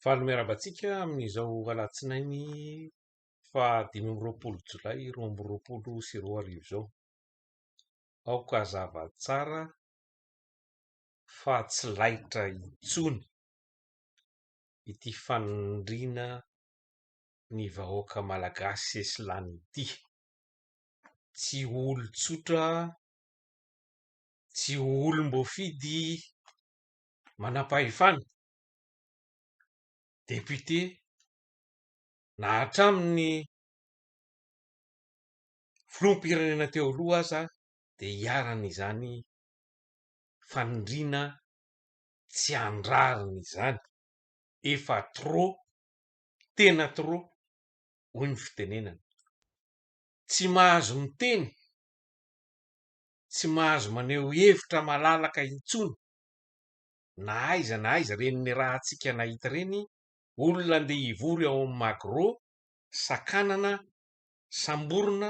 Faly miarahaba antsika amin'izao alatsinainy faha dimy amby roapolo jolay roa amby roapolo sy roa arivo izao. Aoka hazava tsara fa tsy laitra intsony ity fanindriana ny vahoaka malagasy sesilany ity. Tsy olon-tsotra, tsy olom-boafidy manampahefana, député, na hatramin'ny filoham-pirenena teo aloha aza dia iharan' izany faniriana tsy an-drariny izany, efa trop, tena trop hoy ny fitenenana, tsy mahazo miteny, tsy mahazo maneho hevitra malalaka intsony na aiza na aiza reny nirahantsika nahita reny olona andeha hivory ao amin'ny magro sakanana samborina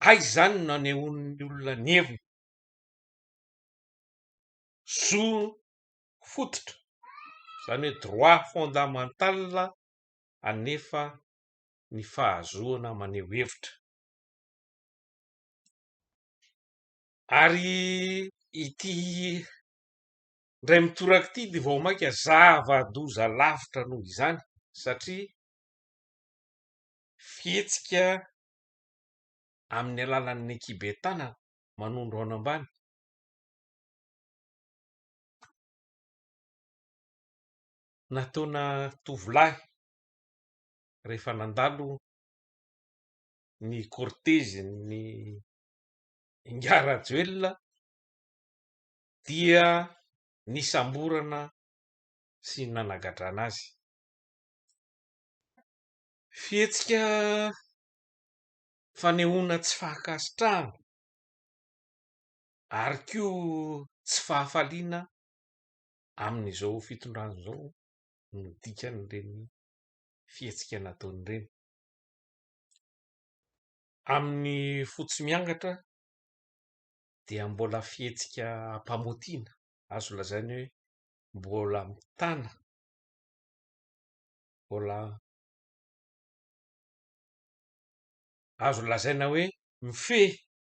aiza zany no nanehoan'ny olona ny heviny zo fototra zany hoe droit fondamental anefa ny fahazoana maneho hevitra Ary ity indray mitoraka ity dia vao mainka zava-doza lavitra noho izany satria fihetsika amin'ny alalan'ny ankihiben-tanana manondro any ambany. Nataona tovolahy rehefa nandalo ny cortège-n'ny Ingahy Rajoelina dia nisamborana sy nanagadrana azy. Fihetsika fanehoana tsy fankasitrahana ary koa tsy fahafaliana amin'izao fitondrana izao no dikan'ireny fihetsika nataony ireny. Amin'ny fo tsy miangatra dia mbola fihetsika am-pamotiana, azo lazaina hoe mbola mitana, mbola azo lazaina hoe mifehy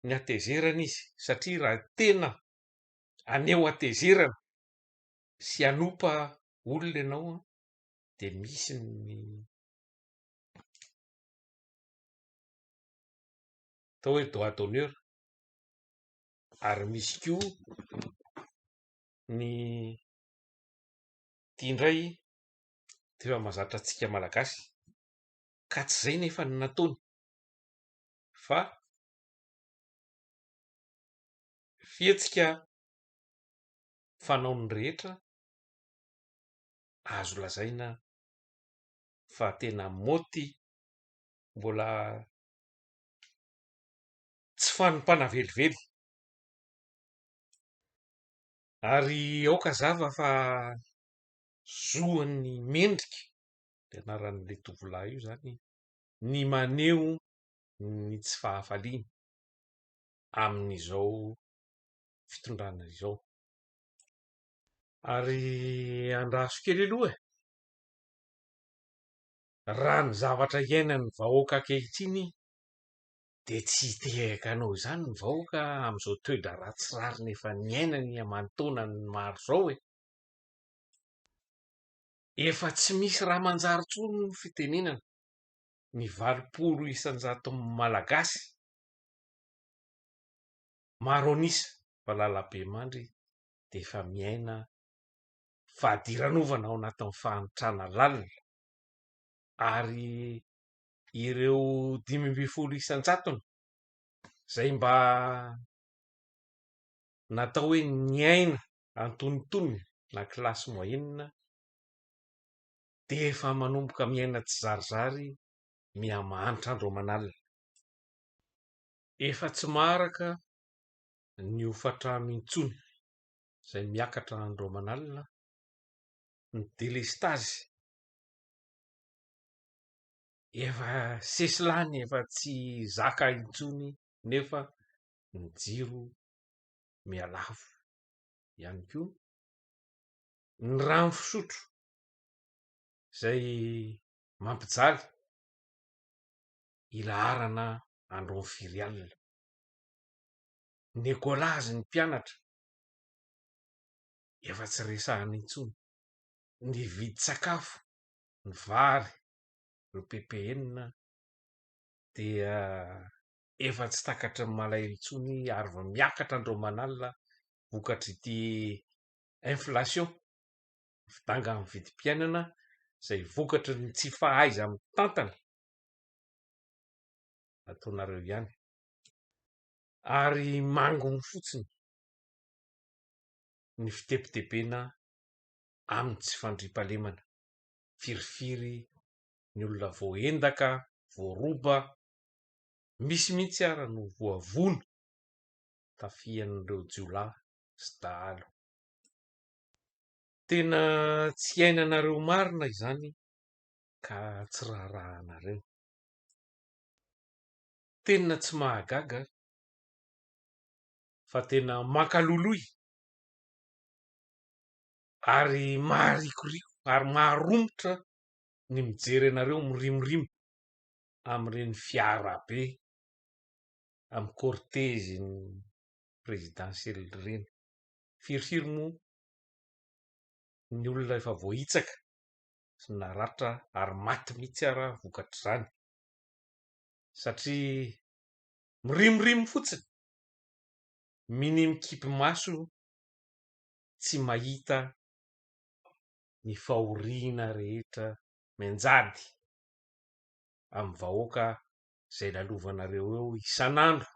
ny hatezerana izy satria raha tena haneho hatezerana sy hanompa olona ianao dia misy ny atao hoe doigt d'honneur ary misy koa ny ity indray dia efa mahazatra antsika malagasy ka tsy izay nefa no nataony fa fihetsika fanaon'ny rehetra azo lazaina fa tena mody mbola tsy fanompana velively. Ary aoka hazava fa zo an'ny mendrika, dia anaran'ilay tovolahy io izany, ny maneho ny tsy fahafaliany amin'izao fitondrana izao. Ary andraso kely aloha e! Raha ny zavatra iainan'ny vahoaka ankehitriny dia tsy hitehaka hanao izany ny vahoaka amin'izao toe-draharaha tsy rariny efa niainany aman-taonany maro izao e! Efa tsy misy raha manjary intsony hoy ny fitenenana, ny valopolo isan-jaton'ny Malagasy maro an'isa fa lalabemandry dia efa miaina fadiranovana ao anatin'ny fahantrana lalina ary ireo dimy ambin'ny folo isan-jatony izay mba natao hoe niaina antonontonony na classe moyenne dia efa manomboka miaina tsizarizary miha mahantra andro aman'alina. Efa tsy maharaka ny hofantrano intsony izay miakatra andro aman'alina ny delestazy efa sesy lany efa tsy zaka intsony nefa ny jiro mihalafo ihany koa ny rano fisotro izay mampijaly hilaharana andron'ny firy alina ny ekolazy ny mpianatra efa tsy resahana intsony, ny vidin-tsakafo, ny vary, ireo ppn dia efa tsy takatry ny malahelo intsony ary vao miakatra andro aman'alina vokatr'ity inflation, fidangan'ny vidim-piainana izay vokatry ny tsy fahaiza-mitantana ataonareo ihany ary manginy fotsiny. ny fitebitebena amin'ny tsy fandriampahalemana, firifiry ny olona voaendaka, voaroba, misy mihitsy ara no voavono tafihan'ireo jiolahy sy dahalo. Tena tsy iainanareo marina izany ka tsy raharahanareo. Tena tsy mahagaga ary. fa tena mankaloloy ary maharikoriko ary maharomotra ny mijery anareo mirimorimo amin'ireny fiara be amin'ny cortège ny présidentielle ireny, firy firy moa ny olona efa voahitsaka sy naratra ary maty mihitsy ara vokatr'izany satria mirimorimo fotsiny. Minia mikipy maso tsy mahita ny fahoriana rehetra mianjady amin'ny vahoaka izay lalovanareo eo isan'andro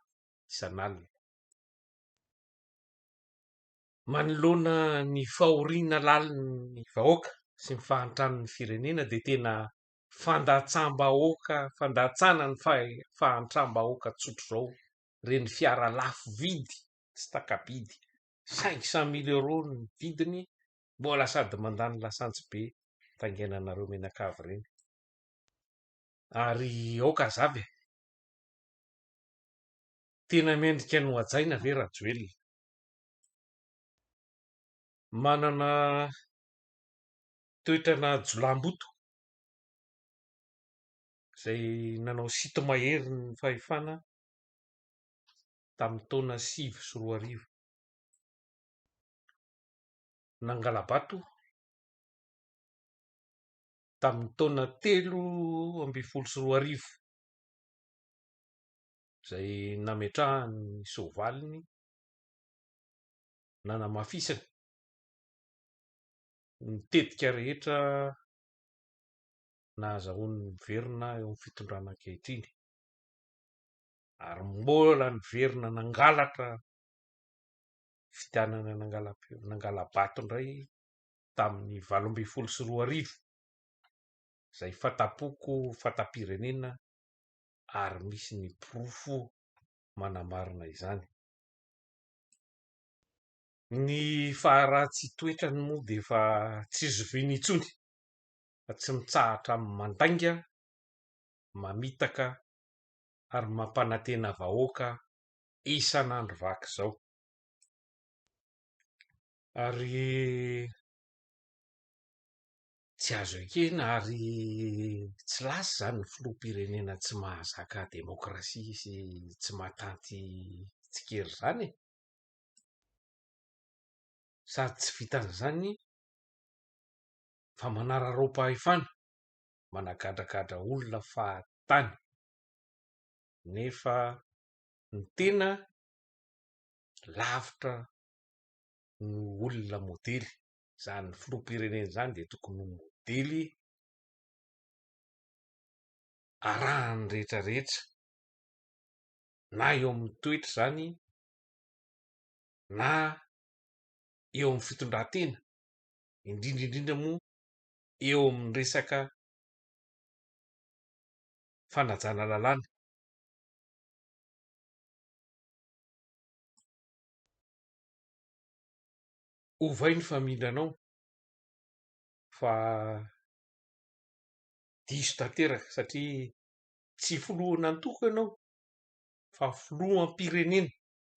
isan'alina. Manoloana ny fahoriana lalin'ny vahoaka sy ny fahantran'ny firenena dia tena fandatsam-bahoaka, fandatsana ny fahantram-bahoaka tsotra izao ireny fiara lafo vidy sy taka-bidy cinq cent mille euros ny vidiny mbola sady mandany lasantsy be taingenanareo menakavy ireny ary aoka aza avy e! tena mendrika nohajaina ve Rajoelina? manana toetrana jolaham-boto izay nanao sito mahery ny fahefana tamin'ny taona sivy sy roa arivo. Nangala-bato tamin'ny taona telo ambin'ny folo sy roa arivo izay nametrahany soavaliny nanamafisany ny tetika rehetra nahazahoany miverina eo amin'ny fitondrana ankehitriny. ary mbola niverina nangalatra fifidianana nangala-peo, nangala-bato indray tamin'ny valo ambin'ny folo sy roa arivo, izay fahatampoko fahatapirenena ary misy ny porofo manamarina izany. Ny faharatsy toetrany moa dia efa tsy zoviana intsony fa tsy mitsahatra mandainga mamitaka ary mampanatena vahoaka isan'andro vaky izao. Ary tsy azo ekena ary tsy lasa izany ny filoham-pirenena tsy mahazaka demokrasia sy tsy mahatanty tsikera izany e! Sady tsy vitan'izany fa manararaoam-pahefana. managadradradra olona fahatany nefa ny tena lavitra ny olona modely izany filoham-pirenena izany dia tokony ho modely arahan'ny rehetra rehetra na eo amin'ny toetra izany na eo amin'ny fitondran-tena indrindra indrindra moa eo amin'ny resaka fanajana lalàna. Ovay ny famindranao fa diso tanteraka satria tsy filohan'antoko ianao fa filoham-pirenena,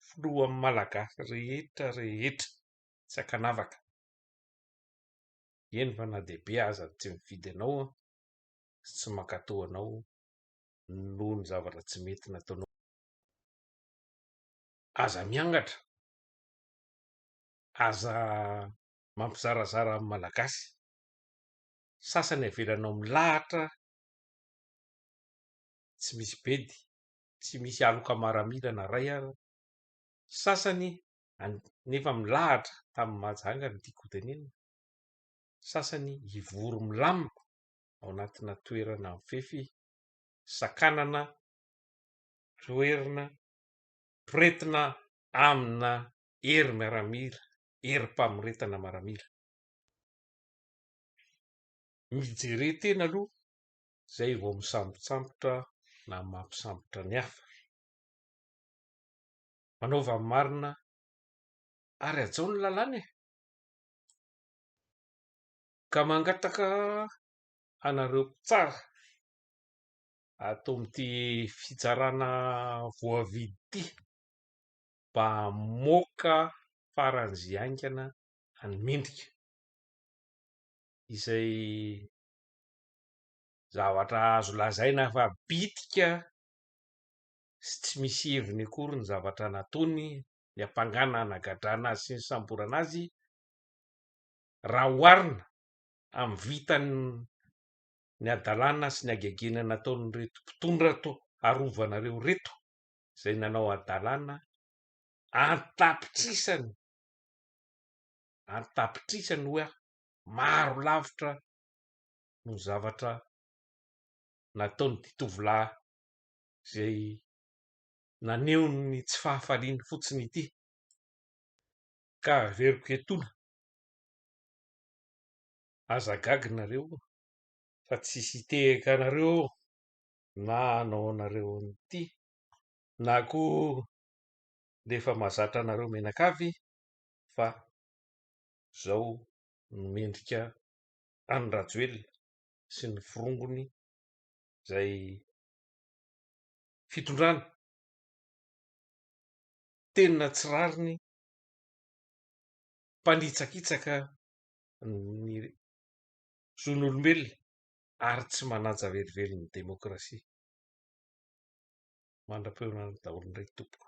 filohan'ny Malagasy rehetra rehetra tsy ankanavaka. eny fa na dia be aza ny tsy mifidy anao an, sy tsy mankatò anao noho ny zavatra tsy mety nataonao aza miangatra, aza mampizarazara amin'ny malagasy, sasany avelanao milahatra tsy misy bedy, tsy misy aloka maramila na ray ara, sasany nefa milahatra tamin'ny maha janga ny tiako ho tenenina, sasany hivory milamina ao anatina toerana mifefy sakanana toerana mpiretina amina hery miaramila, herim-pamoretana miaramila. Ny hijerentena aloha izay vao misambontsambotra na mampisambotra ny hafa. Manaova ny marina ary hajao ny lalàna e! Ka mangataka anareo mpitsara ato amin'ity fitsarana voavidy ity mba hamoaka faran'izay haingana an'i Mendrika izay zavatra azo lazaina fa bitika sy tsy misy heviny akory ny zavatra nataony. ny hampangana hanagadrana azy sy ny samborana azy raha oharina amin'ny vitan'ny ny hadalana sy ny hagegena nataon'ireto mpitondra to harovana ireo ireto izay nanao hadalana an-tapitrisany an-tapitrisany hoy aho maro lavitra noho ny zavatra nataon'ity tovolahy izay naneho ny tsy fahafaliany fotsiny ity ka averiko etona, aza gaga nareo fa tsisy hitehaka anareo aho na hanao anareo an'ity na koa rehefa mazatra anareo menakavy fa zao no mendrika an'i Rajoelina sy ny forongony zay fitondrana, tenina tsy rariny mpanitsakitsaka ny zon'olombelona ary tsy manaja velively ny demokrasia. Mandra-peo anareo daholo indray tompoko.